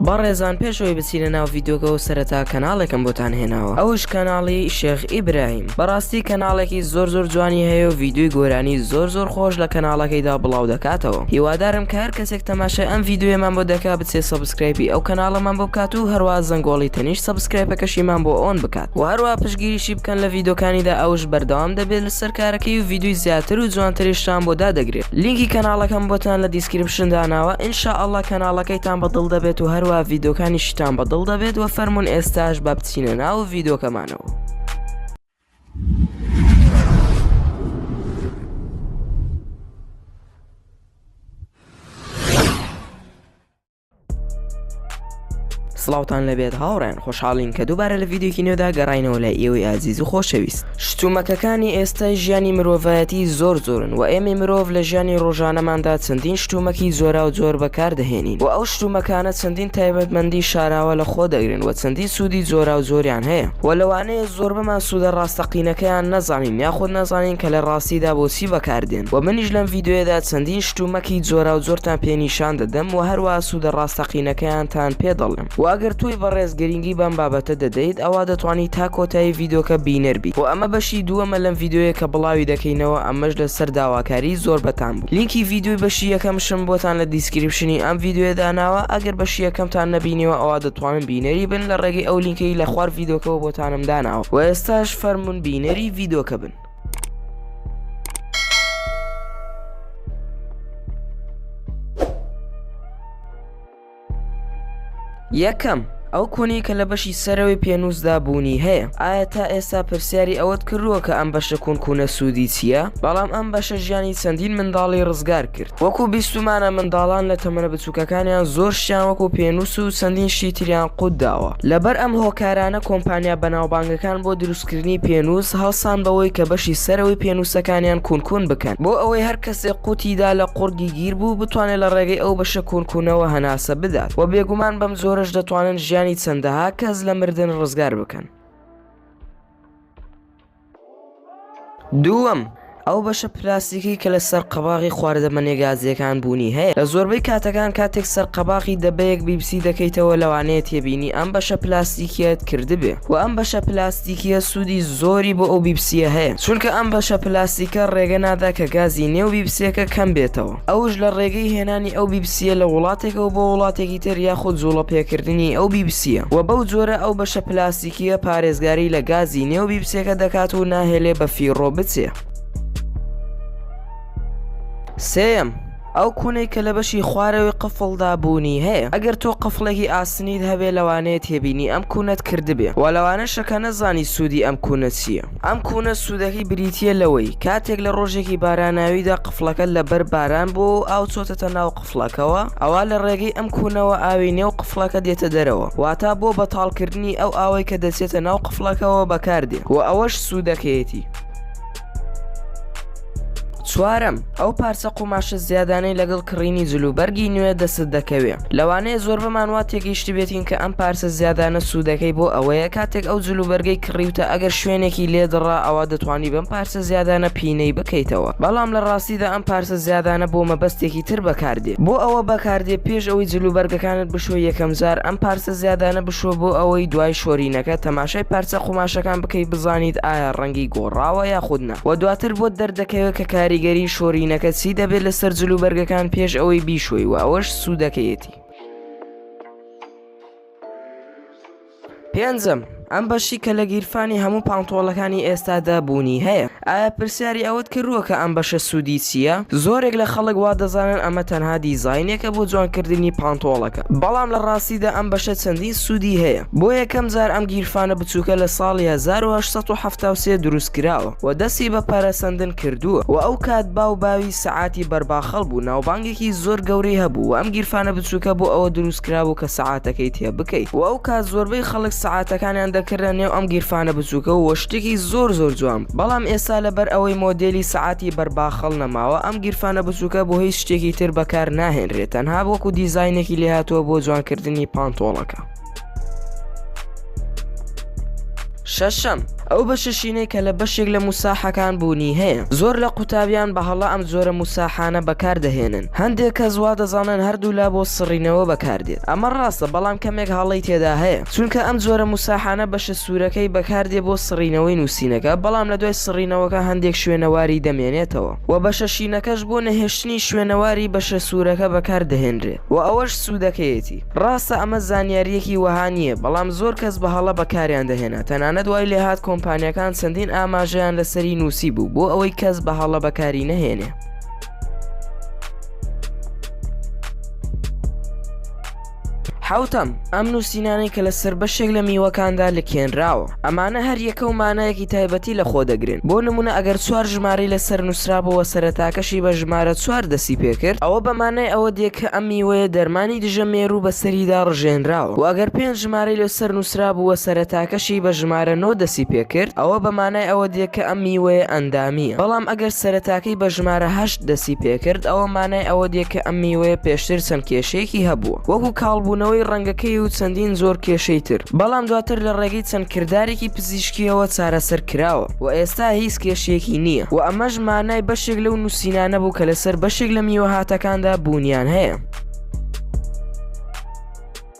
بەڕێزان پێش ئەوەی بچینە ناو ڤیدۆکەوە سەرەتا کەناڵێکم بۆتان هێناوە ئەوش کەناڵی شێخ ئیبراهیم بەڕاستی کەناڵێکی زۆر زۆر جوانی هەیە و ڤیدۆی گۆرانی زۆر زۆر خۆش لە کەناڵەکەیدا بڵاو دەکاتەوە هیوادارم کە هەر کەسێک تەماشای ئەم ڤیدۆیەمان بۆ دەکا بچێ سەبسکرایبی ئەو کەناڵەمان بۆ بکات و هەروا زەنگۆڵی تەنیشت سەبسکرایپەکەشیمان بۆ ئۆن بکات و هەروا پشگیریشی بکەن لە ڤیدۆکانیدا ئەوش بەردەوام دەبێت سەر کارەکەی و ڤیدیۆی زیاتر و جوانتریشتان بۆ دادەگرێ لینکی کەناڵەکەم بۆتان لە دیسکریپشن داناوە ان شاء اللە کەناڵەکەیتان بە دڵ دەبێت و هەروە ڤیدۆکانیشتان بە دڵ دەبێت وە فەرمون ئێستاش با بچینە ناو ڤیدۆکەمانەوە. سڵاوتان لەبێت هاوڕێن خۆشحاڵین کە دووبارە لە ڤیددیوکی نوێدا گەڕینەوە لە ئێوەی ئازیز و خۆشەویست شتومەکەکانی ئێستای ژیانی مرۆڤایەتی زۆر زۆرن و ئێمە مرۆڤ لە ژیانی ڕۆژانەماندا چەندین شتومەکی زۆرا و زۆر بەکاردەهێنین و ئەو شتومەکانە چەندین تایبەتمەندی شاراوە لە خۆ دەگرن و چەندین سوودی زۆرا و زۆریان هەیە و لەوانەیە زۆر بەمان سوودە ڕاستەقینەکەیان نەزانین یاخود نەزانین کە لە ڕاستیدا بۆچی بەکاردێن و منیش لەم ڤیددیوەدا چەندین شتومەکی جۆراوجۆرتان پێ نیشان دەدەم و هەروەها سوودە ڕاستەقینەکەیانتان پێ دەڵێم و ئەگەر تۆی بەڕێز گرنگی بەم بابەتە دەدەیت ئەوا دەتوانیت تا کۆتایی ڤیدۆکە بینەر بیت و ئەمە بەشی دووەمە لەم ڤیدۆیە کە بڵاوی دەکەینەوە ئەمەش لەسەر داواکاری زۆربەتان بوو لینکی ڤیدۆی بەشی یەکەمشم بۆتان لە دیسکریپشنی ئەم ڤیدۆیە داناوە ئەگەر بەشی یەکەمتان نەبینیوە ئەوا دەتوانن بینەری بن لە ڕێگەی ئەو لینکەی لە خوار ڤیدۆکەوە بۆتانم داناوە و ئێستاش فەرموون بینەری ڤیدۆکە بن. یەکەم ئەو کۆنەی کە لە بەشی سەرەوەی پێنووسدا بوونی هەیە ئایا تا ئێستا پرسیاری ئەوەت کردووە کە ئەم بەشە کونکوونە سوودی چییە بەڵام ئەم بەشە ژیانی چەندین منداڵی ڕزگار کرد وەکو بیستمانە منداڵان لە تەمەە بچووکەکانیان زۆر شیان وەکو پێنووس و چەندین شیتریان قوت داوە لەبەر ئەم هۆکارانە کۆمپانیا بەناوبانگەکان بۆ دروست کردنی پێنووس هەڵسان بەوەی کە بەشی سەرەوەی پێنووسەکانیان کونکون بکەن بۆ ئەوەی هەر کەسێک قوتیدا لە قوڕگی گیر بوو بتوانێت لە ڕێگەی ئەو بەشە کونکونەوە هەناسە بدات و بێگومان بەم جۆرەش دەتوانن ژیانی چەندەها کەس لە مردن ڕزگار بکەن. دووەم، ئەو بەشە پلاستیکی کە لەسەر قەباغی خواردەمەنیە گازییەکان بوونی هەیە، لە زۆربەی کاتەکان کاتێک سەر قەباغی دەبەیەک بیبسی دەکەیتەوە لەوانەیە تێبینی ئەم بەشە پلاستیکیەت کردبێ وە ئەم بەشە پلاستیکیە سوودی زۆری بۆ ئەو بیبسیە هەیە چونکە ئەم بەشە پلاستیکە ڕێگە نادا کە گازی نێو بیبسیەکە کەم بێتەوە ئەوش لە ڕێگەی هێنانی ئەو بیبسیە لە وڵاتێکەوە بۆ وڵاتێکی تر یاخود جوڵە پێکردنی ئەو بیبسیە وە بەو جۆرە ئەو بەشە پلاستیکیە کیە پارێزگاری لە گازی نێو بیبسێکە دەکات و ناهێلێ بە فیڕۆ بچێ؟ سێم ئەو کوونەی کە لە بەشی خوارەوەی قفڵدا بوونی هەیە ئەگەر تۆ قفڵێکی ئاسنیت هەبێ لەوانەیە تێبینی ئەم کوونەت کردبێ و لەوانە شەکە نەزانی سوودی ئەم کوونە چییە ئەم کوونە سوودەکەی بریتە لەوەی کاتێک لە ڕۆژێکی باراناویدا قفڵەکە لەبەر باران بۆ ئاو چۆتەتە ناو قفڵەکەوە ئەوا لە ڕێگەی ئەم کونەوە ئاوی نێو قفڵەکە دێتە دەرەوە واتا بۆ بەتاڵ کردنی ئەو ئاوەی کە دەچێتە ناو قفڵەکەوە بەکاردێ و ئەوەش سوودەکەیەتی. چوارەم، ئەو پارچە قوماشە زیادانەی لەگەڵ کڕینی جل و بەرگی نوێ دەستت دەکەوێ لەوانەیە زۆربەمان وا تێگەیشتبێتین کە ئەم پارچە زیادانە سوودەکەی بۆ ئەوەیە کاتێک ئەو جل و بەرگەی کڕیوتە ئەگەر شوێنێکی لێ دڕا ئەوا دەتوانی بەم پارچە زیادانە پینەی بکەیتەوە بەڵام لە ڕاستیدا ئەم پارچە زیادانە بۆ مەبەستێکی تر بەکاردێ بۆ ئەوە بەکاردێ پێش ئەوەی جل و بەرگەکانت بشۆی یەکەم جار ئەم پارچە زیادانە بشۆ بۆ ئەوەی دوای شۆرینەکە تەماشای پارچە قوماشەکان بکەی بزانیت ئایا ڕەنگی گۆڕاوە یاخود نا وە دواتر بۆت دەردەکەوێ کە کاریگەری شۆرینەکە چی دەبێ لەسەر جل و بەرگەکان پێش ئەوەی بیشۆی وە ئەوەش سودەکەیەتی. پێنجەم، ئەم بەشی کە لە گیرفانی هەموو پانتۆڵەکانی ئێستادا بوونی هەیە، ئایا پرسیاری ئەوەت کردووە کە ئەم بەشە سوودی چییە؟ زۆرێک لە خەڵک وا دەزانن ئەمە تەنها دیزاینێکە بۆ جوانکردنی پانتۆڵەکە، بەڵام لە ڕاستیدا ئەم بەشە چەندین سوودی هەیە. بۆ یەکەم جار ئەم گیرفانە بچووکە لە ساڵی هەزار و هەشت سەد و حەفتا و سێ دروستکراوە و دەستی بە پەرەسەندن کردووە و ئەو کات باو باوی سەعاتی بەرباخەڵ بوو ناوبانگی سەعاتێکی زۆر گەورەی هەبوو و ئەم گیرفانە بچووکە بۆ ئەوە دروست کرابوو کە سەعاتەکەی تێ بکەیت و ئەو کات زۆربەی خەڵک سەعاتەکانیان دەکردە نێو ئەم گیرفانە بچووکە و شتێکی زۆر زۆر جوان بوو بەڵام ئێستا لەبەر ئەوەی مۆدێلی سەعاتی بەر باخەڵ نەماوە ئەم گیرفانە بچووکە بۆ هیچ شتێکی تر بەکار ناهێنرێت تەنها وەکو دیزاینێکی لێهاتووە بۆ جوانکردنی پانتۆڵەکە. شەشەم ئەو بەشە شینەی کە لە بەشێک لە موساحەکان بوونی هەیە زۆر لە قوتابیان بە هەڵە ئەم زۆرە موساحانە بەکاردەهێنن هەندێک کەس وا دەزانن هەردوو لا بۆ سڕینەوە بەکاردێت ئەمە ڕاستە بەڵام کەمێک هەڵەی تێدا هەیە چونکە ئەم زۆرە موساحانە بەشە سوورەکەی بەکاردێ بۆ سڕینەوەی نووسینەکە بەڵام لە دوای سڕینەوەکە هەندێک شوێنەواری دەمێنێتەوە و بەشە شینەکەش بۆ نەهێشتنی شوێنەواری بەشە سوورەکە بەکاردەهێنرێت و ئەوەش سوودەکەیەتی ڕاستە ئەمە زانیارییەکی وەها نییە، بەڵام زۆر کەس بە هەڵە بەکاریان دەهێنا، تەنانەت وای لێهات کۆمپانیاکان چەندین ئاماژەیان لەسەری نووسیبوو بۆ ئەوەی کەس بە هەڵە بەکاری نەهێنێ. حەوتەم، ئەم نووسینانەی کە لەسەر بەشێک لە میوەکاندا لکێنراوە. ئەمانە هەر یەکە و مانایەکی تایبەتی لە خۆ دەگرن بۆ نمونە ئەگەر چوار ژماری لە سەر نووسرابەوە سەرتاکەشی بە ژمارە چوار دەسی پێکرد ئەوە بەمانای ئەوە دێ کە ئەم میوەیە دەرمانی دژە مێرو بەسەریدا ڕژێنراوە و ئەگەر پێنج ژمارەی لە سەر نووسرابووە سەرەتاکەشی بە ژمارە نۆ دەسی پێکرد ئەوە بەمانای ئەوە دێ کە ئەم میوەیە ئەندامییە بەڵام ئەگەر سەرەتاکەی بە ژمارە هەشت دەستی پێکرد ئەوە مانای ئەوە دێ کە ئەم میوەیە پێشتر چەند کێشەیەکی هەبووە وەکو کاڵبوونەوەی ڕەنگەکەی و چەندین زۆر کێشەی تر بەڵام دواتر لە ڕێگەی چەند کردارێکی پزیشکیەوە چارەسەر کراوە و ئێستا هیچ کێشەیەکی نییە و ئەمەش مانای بەشێک لەو نووسینانە بوو کە لەسەر بەشێک لە میوەهاتەکاندا بوونیان هەیە.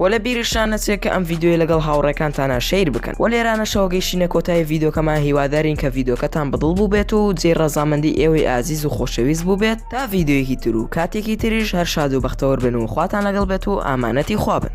وە لە بیرشتان نەچێت کە ئەم ڤیدیۆیە لەگەڵ هاوڕێکانتانا شەیر بکەن وە لێرانەشەوە گەیشتینە کۆتایی ڤیدۆکەمان هیوادارین کە ڤیدۆکەتان بەدڵ بووبێت و جێی ڕەزامەندی ئێوەی ئازیز و خۆشەویست بووبێت تا ڤیدیۆیەکی تر و کاتێکی تریش هەر شاد و بەختەوەر بن و خواتان لەگەڵ بێت و ئامانەتی خوا بن.